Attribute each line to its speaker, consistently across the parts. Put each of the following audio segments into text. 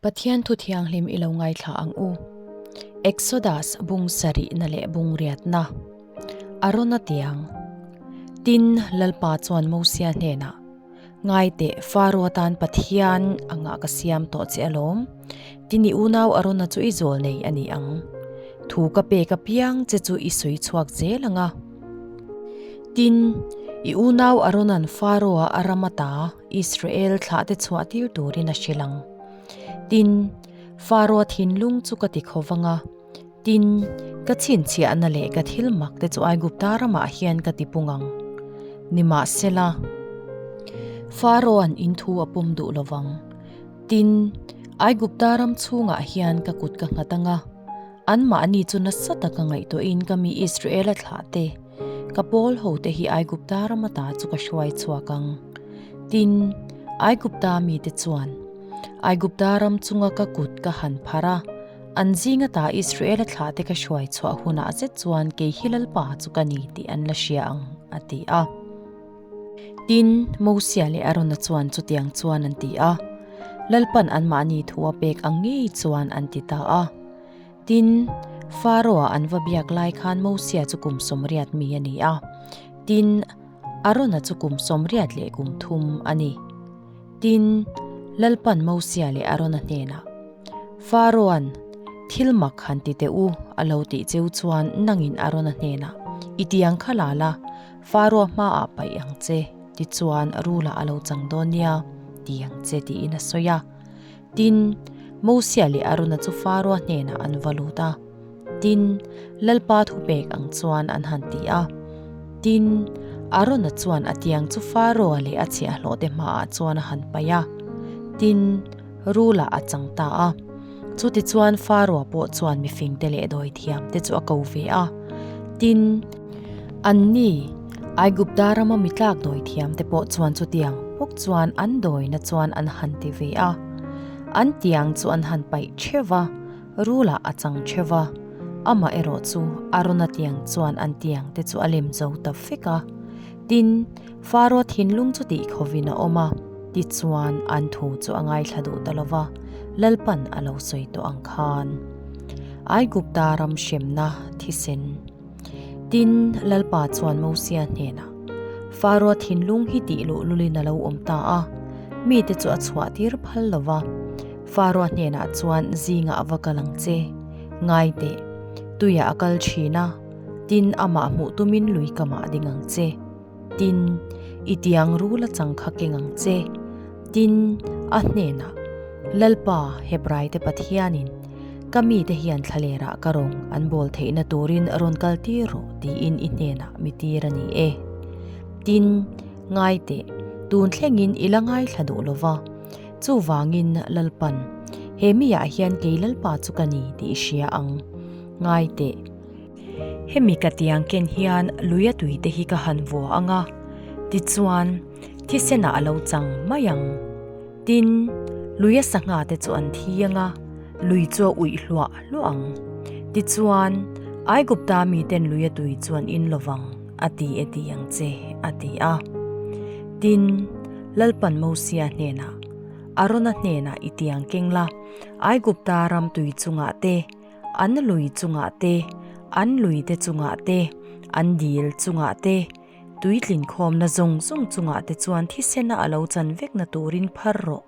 Speaker 1: Pathian thu thianghlim i lo ngaithla ang u. Exodus bung sarihna leh bung riatna. Arona tiang. Tin lalpa chuan Mosia hnena. Ngai te Faro tan Pathian anga ka siam to che alom. Tini unau Arona chu i zol nei ani ang. Thu ka pe ka piang che chu i soi chuak zel anga. Tin i unau Aronan Faroa aramata. Israel thlah te chhuah tir turin a hrilh ang. Tin, Faraoa thinlung chu ka ti kho vanga, tin, ka chhinchhiahna leh ka thil mak te chu Aigupta ramah hian ka ti pung ang. Nimahsela, Faraoan in thu a pawm duh lo vang. Tin, Aigupta ram chhungah hian ka kut ka nghat anga, anmahni chu nasa taka ngaihtuahin ka mi Israela thlah te, Ka pawl hote hi Aigupta rama ta chu ka hruai chhuak ang. Tin, Aigupta mite chuan, Aigupta ram chunga ka kut ka han pharh a, an zinga ta Israela thlahte ka hruai chhuah hunah zet chuan kei hi lalpa chu ka ni tih an la hria ang, a ti a. Tin, Mosia leh Arona chuan chutiang chuan an ti a, Lalpan anmahni thu a pek ang ngei chuan an ti ta a. Tin, Faraoa an va biak lai khan Mosia chu kum sawm riat mi a ni a. Tin, Arona chu kum sawm riat leh kum thum a ni. Tin, Lalpan Mosia leh Arona hnenah, Faraoan, thil mak han ti teh u, a lo tih cheu chuan nangin Arona hnenah, I tiang kha la la, Faraoa hmaah paih ang che, tichuan Rula a lo chang dawn nia, ti ang che, tiin a sawi a. Tin, Mosia leh Arona chu Faraoa hnenah an va lut a. Tin, Lalpa thu pek ang chuan an han ti a. Tin, Arona chuan a tiang chu Faraoa leh a chhiahhlawhte hmaah chuan a han paih a. Tin, Rula a chang ta a. Chutichuan Faraoa pawh chuan mifingte leh dawithiamte chu a ko ve a. Tin, Anni, Aigupta rama mi tlak dawi thiam te pawh chuan chutiang pawk chuan an dawina chuan an han ti ve a, an tiang chu an han paih theuh a, rulah a chang theuh a, amah erawh chu Arona tiang chuan an tiang te chu a lem zo ta fek a. Tin, Faraoh thinlung chu tih khawvin a awm a, tichuan an thu chu a ngaithla duh ta lova, lalpan a lo sawi tawh ang khan. Aigupta ram hremna thisen. Tin Lalpa chuan Mosia hnena, Faraw thinlung hi tih luh lulin a lo awm ta a, mi te chu a chhuah tir phal lo va. Faraw hnena chuan zinga va kal ang che, ngai teh, tuia a kal thin a, tin amah hmuh tumin lui ka mah ding ang che. Tin, i tiang ru la changkha keng ang che. Tin, a hnenah, Lalpa, Hebraite Pathianin, ka mite hian thla lerah ka rawng an bawl theihna turin rawn kal tir rawh, tiin i hnenah mi tir a ni e. Tin, ngai teh, tun thlengin i la ngaithla duh lova. Chuvangin, Lalpan, he mi ah hian kei Lalpa chu ka ni, tih i hria ang. Ngai teh, Hemi ka tiang ken hian lui a tui te hi ka han vua ang a, tichuan thisenah a lo chang mai ang. Tin, lui a sangha te chu an thi ang a, lui chu a uih hluah hluah ang. Tichuan, Aigupta mi ten lui a tui chuan in lovang a ti e ti ang che, a ti a. Tin, Lalpan Mosia hnenah, Arona hnenah i tiang keng la, Aigupta ram tui chungah te, an lui chungah te, an lui te chungah te, an dil chungah te, tui tlin khawmna zawng zawng chungah te chuan thisena a lo chan vekna turin phar rawh.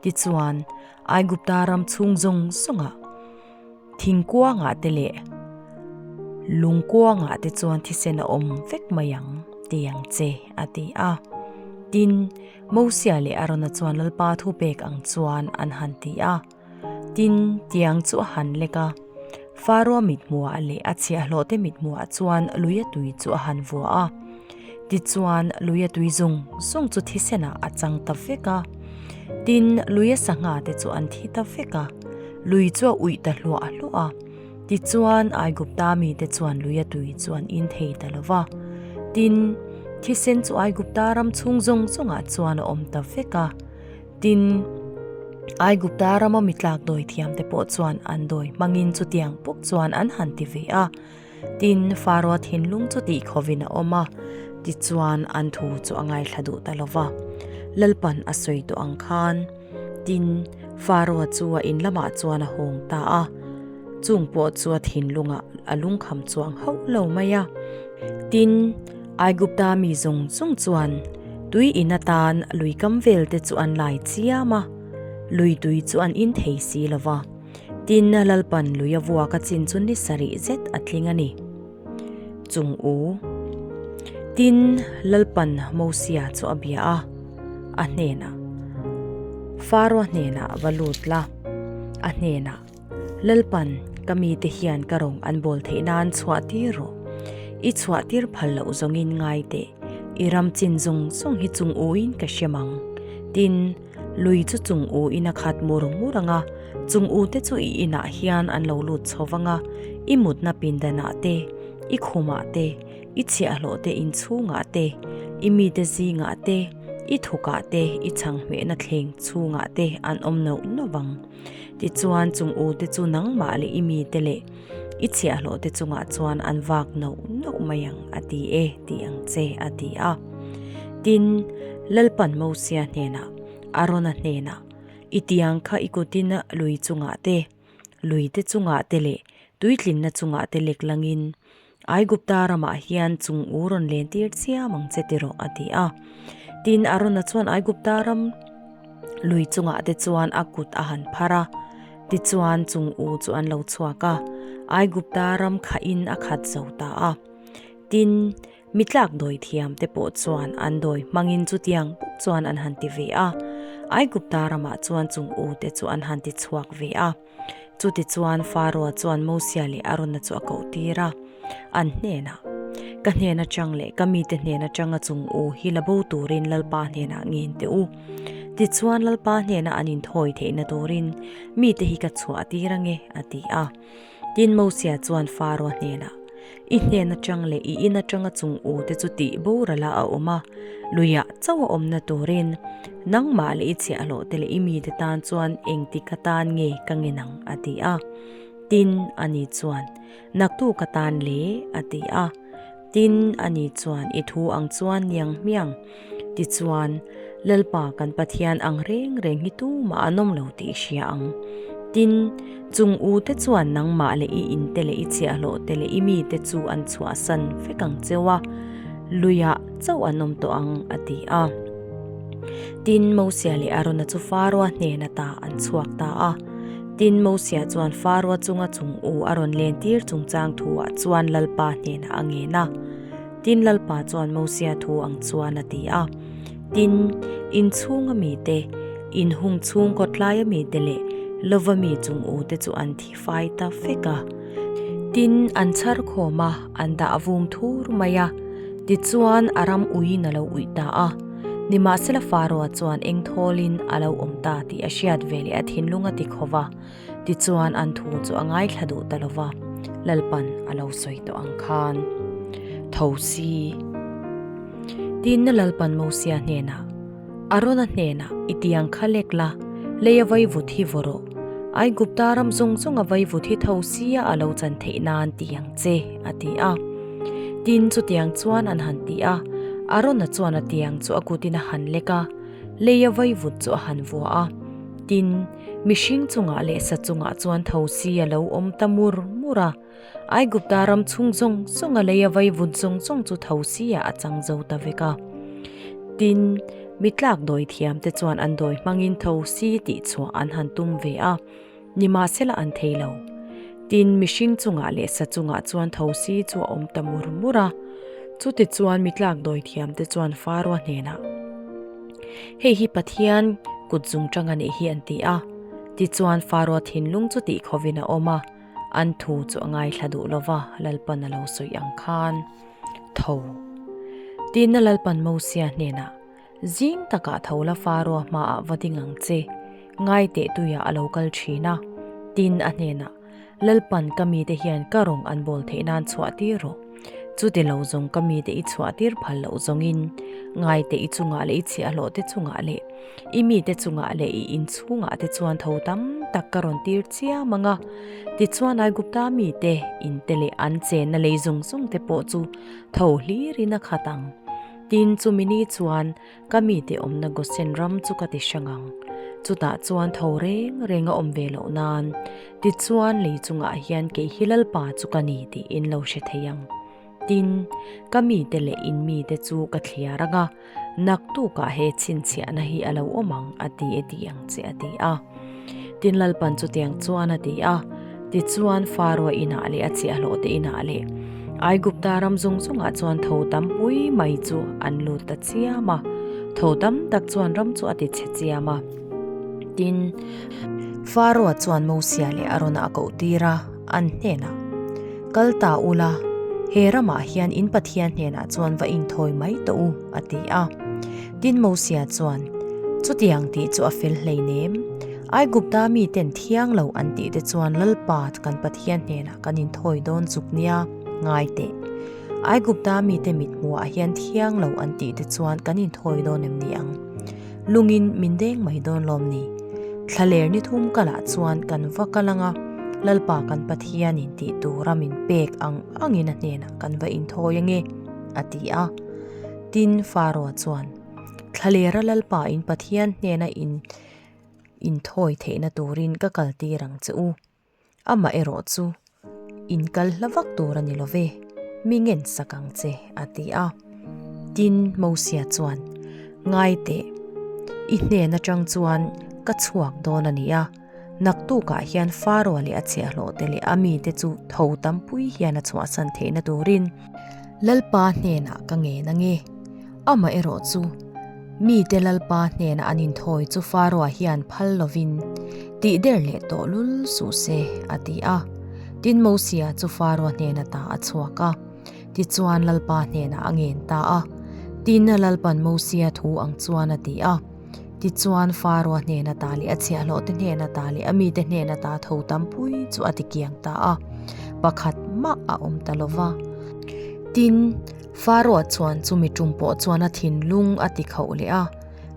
Speaker 1: Tichuan, Aigupta ram chhung zawng zawngah thing kuangah te leh lung kuangah te chuan thisen a awm vek mai ang ti ang che, a ti a. Tin, Mosea leh Arona chuan Lalpa thu pek ang chuan an han ti a. Tin, tiang chu a han lek a. Faraoa mithmuaa leh a chhiahhlawhte mithmuaa chuan luia tui chu a han vua a. Tichuan, luia tui zung zung chu thisenah a chang ta vek a. Tin, luia sangha te chu an thi ta vek a. Lui chu a uih ta hluah hluah a. Tichuan, Aigupta mite chuan luia tui chu an in thei ta lo va. Tin, thisen chu Aigupta ram chhung zawng zawngah chuan a awm ta vek a. Tin, Aigupta rama mi tlak dawi thiam te pawh chuan an dawi hmangin chutiang pawh chuan an han ti ve a. Tin, Faraoa thinlung chu tih khawvin a awm a, tichuan an thu chu a ngaithla duh ta lo va. Lalpan a sawi tawh ang khan, tin, Faraoa chu a in lamah chuan a hawng ta a. Chung pawh chuan thinlunga a lungkham chuang hauh lo mai a. Tin, Aigupta mi zawng zawng chuan tui in atan lui kam vel te chu an lai chiam a, lui tui chu an inthei si lo va. Tin, Lalpan lui a vuak a chin chu ni sarih zet a tling a ni. Chung u. Tin, Lalpan Mosia chu a bia a, a hnenah, Faraw hnenah va lut la, a hnenah, Lalpan, ka mite hian ka rawng an bawl theih nan chhuah tir rawh. I chhuah tir phal loh zawngin ngai teh. I ram chin zawng zawng hi chung uin ka hriam ang. Tin, lui chu chung u ina khat mur mur anga, chung u te chu i inah hian an lo lut chho vang a, i mutna pindanah te, i khumah te, i chhiahhlawh te inchhungah te, i mite zingah te, i thukah te, i chhanghmehna thleng chhungah te an awm nauh nauh ang. Tichuan chung u te chu nangmah leh i mite leh i chhiahhlawh te chungah chuan an vak no no mai ang a ti e tih ang che a ti a. Tin, Lalpan Mosia hnenah, Arona hnenah, I tiang kha i kutin lui chungah te, lui te chungah te leh tuitlinna chungah te leklangin Aigupta ramah hian chung u rawn len tir chiam ang che tiraw a ti a. Tin Arona chuan Aigupta ram lui chungah te chuan a kut a han phar a. Tichuan chung u chu an lo chhuak a. Aigupta ram kha in a khat zo ta a. Tin mi tlak dawi thiam te pawh chuan an dawi hmangin chutiang pawh chuan an han ti ve a. Aigupta ramah chuan chung u te chu an han ti chhuak ve a. Chutichuan Faraoa chuan Mosea leh Arona chu a koh tir a, an hnenah, Ka hnen atang leh ka mite hnen atang a chung u, hi la bo turin Lalpa hnenah ngen teh u. Tichuan Lalpa hnenah an inthawi theihna turin mite hi ka chhuah tir ange, a ti a. Tin Mosea chuan Faraoa hnenah, i hlen atang leh i in atanga chungu te chu tih borala a awm a luiah chauh a awmna turin nangmah leh i chhiahhlawh te leh i mi te tan chuan engti ka tan nge ka ngen ang a ti a tin ani chuan naktu ka tan le a ti a tin ani chuan i thu ang chuan niang hmiang Tichuan, Lalpa kan Pathian ang reng reng hi tumah an awm lo tih hria ang. Tin, chung u te chuan nangmah leh i in te leh i chhiahhlawh te leh i mi te chu an chhuahsan vek ang cheu a, luiah chauh an awm tawh ang, a ti a. Tin, Mosia leh Arona chu Faraoa hnena ta an chhuak ta a. Tin, Mosia chuan Faraoa chunga chung u a rawn len tir chungchang thu ah chuan Lalpa hnenah a ngen a. Tin Lalpa chuan Mosia thu ang chuan a ti a, Tin, inchhung a mi te, inhung chhung kawtlai a mi te leh lova mi chung u te chu an thi fai ta fek a. Tin, an chhar khawm a, an dah vung thur mai a. Tichuan a ram uiin a lo uih ta a. Nimahsela Faraoa chuan eng thawlin a lo awm ta tih a hriat veleh a thinlung a ti khawva. tichuan an thu chu a ngaithla duh ta lova Lalpan a lo sawi tawh ang khan. Tho si. Tinna Lalpan Mosia hnena, Arona hnena i ti ang kha lek la, lei a vaivut hi vawr aw, Aigupta ram zawng zawng a vaivut hi tho si a a lo chan theih nan ti ang che, a ti a. Tin chutiang chuan an han ti a, Arona chuan a tiang chu a kutin a han lek a, lei a vaivut chu a han vua a. Tin. mihring chungah leh sa chungah chuan thosi a lo awm ta mur mur a. Aigupta ram chhung zawng zawnga lei a vaivut zawng zawng chu thosiah a chang zo ta vek a. Tin, mi tlak dawi thiamte chuan an dawi hmangin thosi tih chhuah an han tum ve a, ni mah sela an thei lo. Tin, mihring chungah leh sa chungah chuan thosi chu a awm ta mur mur a. Chutichuan mi tlak dawi thiamte chuan Faraw hnenah. Hei hi Pathian kut zung tang a nih hi an ti a, tichuan Faraw thinlung chu tih khawvin a awm a, an thu chu a ngaithla duh lo va, Lalpan a lo sawi ang khan. Tho! Tinna Lalpan Mosea hnenah, Zing takah tho la Faraw hmaah va ding ang che, ngai teh tuiah a lo kal thin a, tin a hnenah, Lalpan ka mite hian ka rawn an bawl theih nan chhuah tir rawh. Chuti lo zawng ka mite i chhuah tir phal loh zawngin, ngaite i chungah leh i chhiahhlawh te chungah leh, i mite chungah leh i inchhungah te chuan tho tam tak ka rawn tir chiah mang a. Tichuan ai Gupta mite in te leh an chenna lei zung zung te pawh chu tho hlir in a khat ang. Tin chumi ni chuan ka mi tih awmna gosen ram chu ka ti hrang ang. Chutah chuan tho reng renga awm ve loh nan, tichuan lei chungah hian kei hi Lalpa chu ka ni tiin lo hre thei ang. Tin, ka mite leh in mite chu ka thliar anga, naktukah he chhinchhiahna hi a lo awm ang a ti e tih ang che a ti a. Tin Lalpan chu tiang chuan a ti a, tichuan Faraoh inah leh a chiahhlawhte inah leh Aigupta ram zung zungah chuan tho tam pui mai chu an lut ta chiam a, tho tam tak chuan ram chu a ti chhe chiam a. Tin, Faraoh chuan Mosia leh Arona a koh tir a, an hnenah, Kal ta ula, he ramah hian in Pathian hnenah chuan va inthawi mai tawh u, a ti a. Tin Mosia chuan, Chutiang tih chu a fel hleinem. Aigupta miten thiang lo an tih te chuan Lalpa kan Pathian hnenah kan inthawi dawn chuk nia, ngai teh. Aigupta mite mithmuahah hian thiang lo an tih te chuan kan inthawi dawn em ni ang? Lungin min deng mai dawn lawm ni? Thla ler ni thum kalah chuan kan va kal anga Lalpa kan Pathianin tih tura min pek ang angin a hnenah kan va inthawi ange, a ti a. Tin, Faraw chuan thlalera Lalpa in Pathian hnena in inthawi theihna turin ka kal tir ang che u. Amah erawh chu inkal hla vak tur a ni lo ve, mi ngensak ang che, a ti a. Tin, Mosia chuan, Ngai teh, i hnen atang chuan ka chhuak dawn a ni a. Naktukah hian Faraoh leh a chhiahhlawhte leh a mite chu tho tampui hian a chhuahsan theihna turin, Lalpa hnenah ka ngen ange. Amah erawh chu, mite Lalpa hnenah an inthawi chu Faraoh hian phal lovin, Tih der leh tawh lul suh se, a ti a. Tin Mosea chu Faraoh hnena ta a chhuak a, tichuan Lalpa hnenah a ngen ta a. Tinna Lalpan Mosea thu ang chuan a ti a. Tichuan Faraoh hnena ta leh a chhiahhlawhte hnena ta leh a mite hnena ta tho tampui chu a ti kiang ta a, pakhat mah a awm ta lova. Tin, Faraoh chuan chu mi ṭum pawh chuan a thinlung a ti khauh leh a,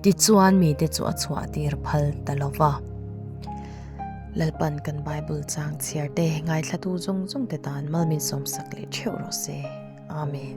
Speaker 1: tichuan mite chu a chhuahtir phal ta lova. Lalpan kan Bible changchhiarte ngaithlatu zawng zawngte tan malminsawmsak leh ṭheuh rawh se. Amen.